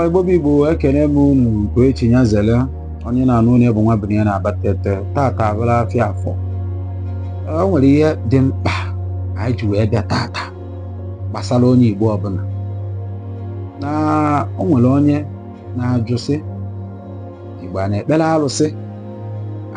Igbo bụ Igbo ekene m unu nke echi nya zele onye na-anụ onye bu nwa bunie ya na-aba tete tata abụla afịa afọ o nwere ihe dị mkpa anyị ji wee bịa tata gbasara onye Igbo ọbụla na o nwere onye na-ajụ sị Igbo a na-ekpere arụsị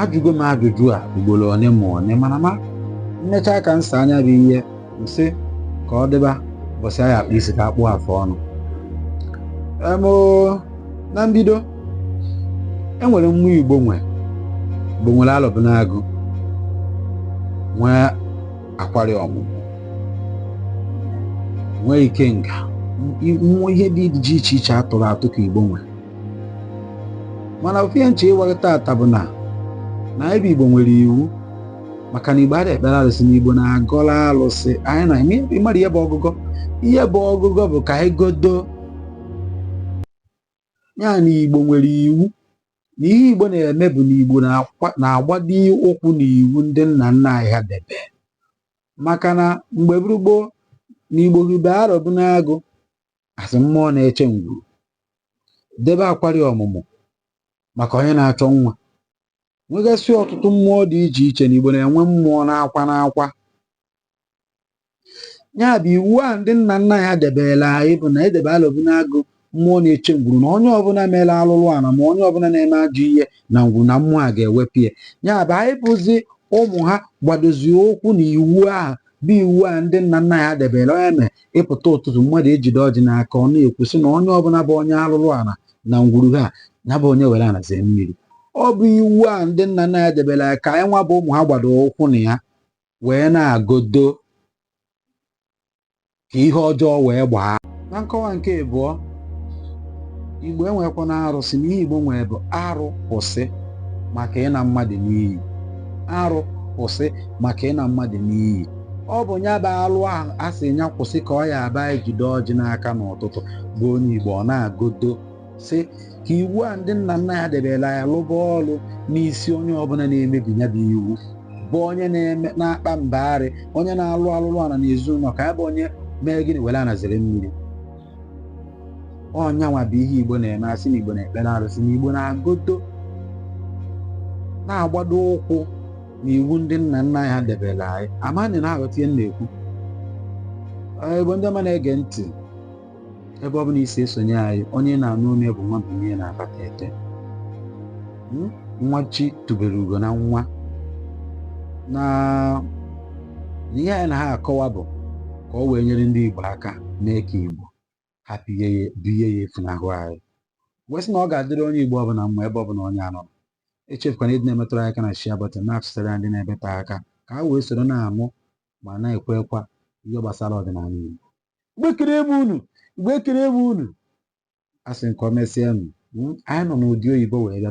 ajụgo m ajụjụ a ugboro one ma one mana ma mmechaa ka m saa nya bụ ihe m sị ka ọ dịba ụbọchị a ya-akpụ isi ka a kpụọ afọ ọnụ Em, oo, na mbido enwere mmụọ igbo nwe igbo nwere alọbịnagụ nwee akwari ọmụmụ nwee ikenga nwee ihe dị iche iche iche a tụrụ atụ ka igbo nwe mana ofu ihe m chọ ịgwa gị tata bụ na na anyị bụ igbo nwere iwu maka na igbo adịghị ekpere arụsị na igbo na-agọlụ arụsị anyị na eme ịmara ihe bụ ọgụgọ ihe bụ ọgụgọ bụ ka anyị godo ya na igbo nwere iwu na ihe igbo na-eme bụ na igbo na-akwa- na-agbado ụkwụ na iwu ndị nna nna anyị ha debe maka na mgbe bụrụ gboo na igbo hibe arọbịnagụ as mmụọ na-eche ngwuru debe akwari ọmụmụ maka onye na-achọ nwa nwegasị ọtụtụ mmụọ dị iche iche na Igbo na-enwe mmụọ n'akwa n'akwa ya bụ iwu a ndị nna nna anyị ha debere anyị bụ na e debe alọbịnagụ mmụọ na-eche ngwuru na onye ọbụla mere alụlụ ala ma onye ọbụla na-eme ajọ ihe na ngwuru na mmụọ a ga-ewepụ ya ya bụ anyị bụzi ụmụ ha gbadozie ụkwụ na iwu ahụ bụ iwu a ndị nna nna anyị ha debere ọ nya mee ị pụta ụtụtụ mmadụ ejide ọjị n'aka ọ na-ekwu sị na onye ọbụla bụ onye alụlụ ala na ngwuru ha ya bụ onye were ana zee mmiri ọ bụ iwu a ndị nna nna anyị ha debere a ka anyị nwa bụ ụmụ ha gbado ụkwụ na ya wee na-agodo ka ihe ọjọọ wee gbaa na nkọwa nke abụọ igbo enwekwa na arụsị na ihe igbo nwere bụ arụ kwụsị maka ịna mmadụ n'iyi arụ kwụsị maka ịna mmadụ n'iyi ọ bụ ya bụ alụ ahụ a sị ya kwụsị ka ọ ya-abụ e jide ọjị n'aka n'ụtụtụ bụ onye Igbo ọ na-agodo sị ka iwu a ndị nna nna anyị ha debere a lụba ọrụ n'isi onye ọbụla na-emebi ya bụ iwu bụ onye na-eme na-akpa mbagharị onye na-alụ alụlụ ana na ezinụlọ ka ya bụ onye mee gịnị were ana zere mmiri ọ nya nwa bụ ihe Igbo na-eme asị na Igbo na-ekpere arụsị na Igbo na-agodo na-agbado ụkwụ na iwu ndị nna nna anyị ha debere anyị ama na ị na-aghọta ihe m na-ekwu Ee, Igbo ndị ọma na-ege ntị ebe ọ bụla i si esonye anyị onye na-anụ onu ya bụ nwa binye na Abatete hmm? nwa chi tubere ugo na nwata ihe anyị na ha akọwa bụ ka ọ wee nyere ndị Igbo aka mee ka Igbo hapụ ịya efunahụ anyị wee sị na ọ ga-adịrị onye Igbo ọbụla mma ebe ọbụla onye a nọ echefukwana ịdị na-emetụrụ aka na share button na-atụsara ndị nọ ebe te aka ka ha wee soro na-amụ ma na-ekwekwa ihe gbasara ọdịnala Igbo Igbo ekelee m unu Igbo ekelee m unu a sị nke o mesịa unu hmm, anyị nọ n'udo oyibo wee bịa